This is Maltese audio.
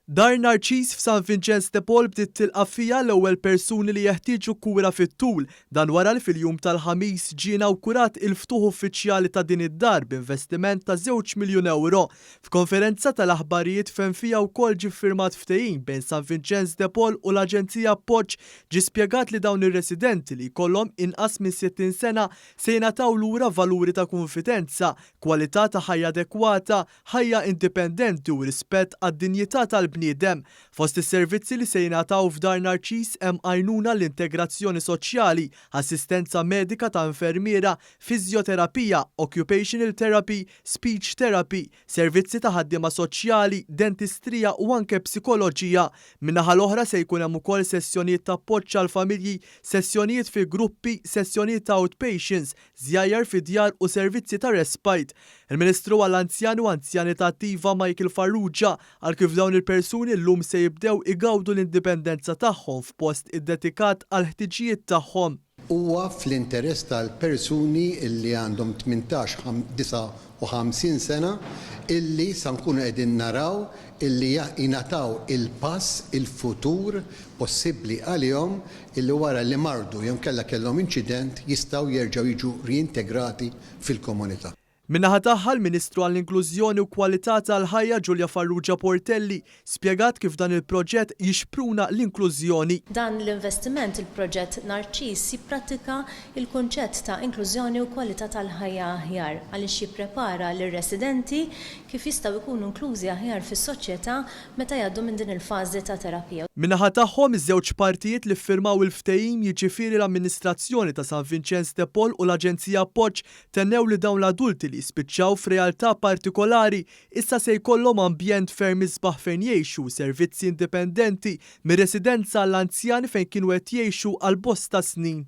Dar Narċiż f'San Vinċenz de Paul bdiet tilqa' fiha l-ewwel persuni li jeħtieġu kura fit-tul. Dan wara li fil-jum tal-Ħamis ġie inawkurat il-ftuħ uffiċjali ta' din id-dar b'investiment ta' żewġ miljun ewro. F'konferenza tal-aħbarijiet fejn fiha wkoll ġie ffirmat ftehim bejn San Vinċenz de Paul u l-Aġenzija Appoġġ ġie spjegat li dawn ir-residenti li jkollhom inqas minn 60 sena Se jingħataw lura valuri ta' kunfidenza, kwalità ta' ħajja adekwata, ħajja indipendenti u rispett għad-dinjità tal-bniedem. Fost is-servizzi li se jingħataw f'Dar Narċis hemm għajnuna għall-integrazzjoni soċjali, assistenza medika ta' infermiera, fiżjoterapija, occupational therapy, speech therapy, servizzi ta' ħaddiema soċjali, dentistrija u anke psikoloġija. Min-naħa l-oħra se jkun hemm ukoll sessjonijiet ta' appoġġ għall-familji, sessjonijiet fi gruppi, sessjonijiet ta' outpatients, żjajjar fid-djar u servizzi ta' respite. Il-Ministru għall-Anzjani u Anzjanità Attiva Michael Farrugia qal kif dawn il-persuni llum se jibdew igawdu l-indipendenza tagħhom f'post iddedikat għall-ħtiġijiet tagħhom. Huwa fl-interess tal-persuni li għandhom tmintax, 59 sena illi sa nkunu qegħdin naraw illi jingħataw il-pass il-futur possibbli għalihom illi wara li mardu jew inkella kellhom inċident jistgħu jerġgħu jiġu riintegrati fil-komunità. Min-naħa tagħha, l-Ministru għall-Inklużjoni u Kwalità tal-Ħajja Julia Farrugia Portelli spjegat kif dan il-proġett jixpruna l-inklużjoni. Dan l-investiment, il-proġett Narċiż, jipprattika l-kunċett ta' inklużjoni u kwalità tal-ħajja aħjar għaliex jipprepara lir-residenti kif jistgħu jkunu inklużi aħjar fis-soċjetà meta jgħaddu minn din il-fażi ta' terapija. Min-naħa tagħhom, iż-żewġ partijiet li ffirmaw il-ftehim jiġifieri l-Amministrazzjoni ta' San Vinċenz de Paul u l-Aġenzija Appoġġ Tennew li dawn l-adulti li jispiċċaw f'realtà partikolari issa se jkollhom ambjent ferm isbaħ fejn jgħixu u servizzi indipendenti mir-residenza għall-anzjani fejn kienu qed jgħixu għal bosta snin.